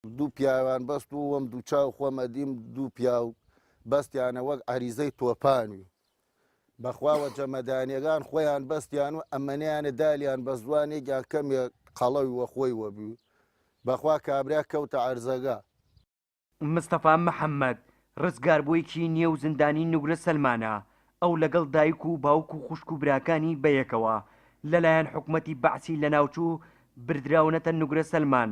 دوو پیاوان بەست و وەم دوو چاو خۆم ئەدیم دوو پیاو بەستیانە وەک عەریزەی تۆپانوی بەخواوە جەمەدانیەکان خۆیان بەستیان و ئەمەنیانە دالیان بە زوانێکیان کەمێک قەڵەوی وە خۆی وەبی و بەخوا کابرا کەوتە عەرزەگە. مستەفا محەمەد، ڕزگاربوویەکی نێو زندانی نوگرە سەلمانە، ئەو لەگەڵ دایک و باوک و خوشک و براکانی بەیەکەوە لەلایەن حکومەتی بەعسی لەناوچوو بردراونەتە نوگرە سەلمان،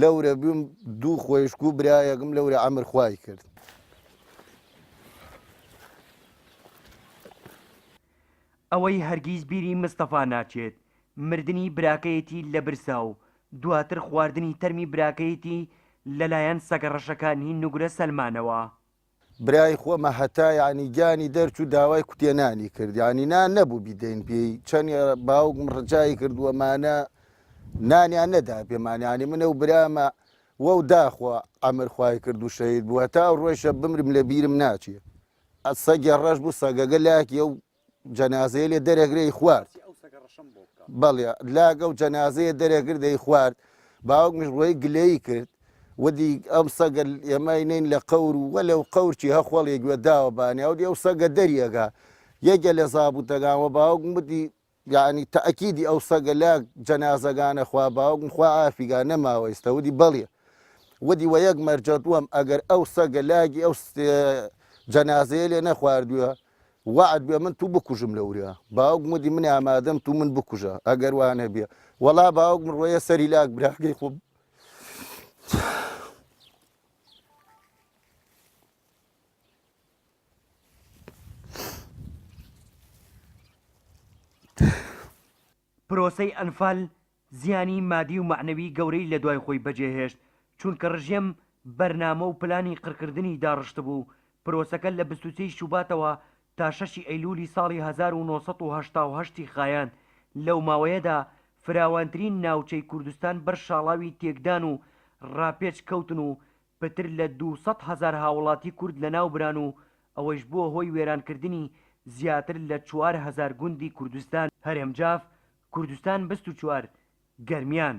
لەورە بوم دوو خۆیشک و برایەکم لەورە ئەمر خوای کرد. ئەوەی هەرگیز بیری مستەفا ناچێت مردنی براکەیەتی لە برسا و دواتر خواردنی تەرمی براکەیەتی لەلایەن سەگە ڕەشەکانی نوگرە سەلمانەوە. برای خۆمە هەتا یانی گیانی دەرچوو داوای کوتێ نانی کرد یانی نا نەبوو بیدەین پێی چەند باوکم ڕجایی کردووەمانە نانیان نەدا پێمانیانی منە و برامە وەو داخوا ئەمر خوای کرد و شەید بووە تا ڕۆیشە بمرم لە بیرم ناچێ ئە سەگێ ڕەش بوو سەگەگە لاکیە و جەنازەیە لێ دەرەگرەی خوارد بەڵێ لاگە و جەنازەیە دەرەگر دەی خوارد باوکمیش ڕۆی گلەیی کرد ودی ئەم سەگە ئێمای نین لە قەور و وە لەو قەورچی هەخۆڵێ گوێ داوە بانێ ئەو دی ئەو سەگە دەریەگە یەکە لە زابووتەگانەوە باوکم بدی یعنی تاکیدی ئەو سەگە لا جەنازەگانە خوا باوکم خوا ئافیگا نەماوە ئێستا ودی بەڵێ ودی وە یەک مەرجەت وەم ئەگەر ئەو سەگە لاگی ئەو جەنازەیە لێ نەخواردووە وەعد بێ من تو بکوژم لەوریا. باوکم وتی من ئامادەم تو من بکوژە ئەگەر وا نەبیا. وەڵا باوکم ڕۆیە سەری لاک براکەی خۆم. پرۆسەی ئەنفال زیانی مادی و مەعنەوی گەورەی لە دوای خۆی بەجێ هێشت، چونکە ڕژێم بەرنامە و پلانی قڕکردنی داڕشتبوو، پرۆسەکە لە بیست و سێ ی شوباتەوە تا شەش ی ئەیلولی ساڵی هەزار و نۆ سەد و هەشتا و هەشت ی خایاند، لەو ماوەیەدا فراوانترین ناوچەی کوردستان بەر شاڵاوی تێکدان و ڕاپێچ کەوتن و پتر لە دوو سەد هەزار هاوڵاتی کورد لەناوبران و ئەوەیش بووە هۆی وێرانکردنی زیاتر لە چوار هەزار گوندی کوردستان. هەرێم جاف، کوردستان بیست و چوار گەرمیان.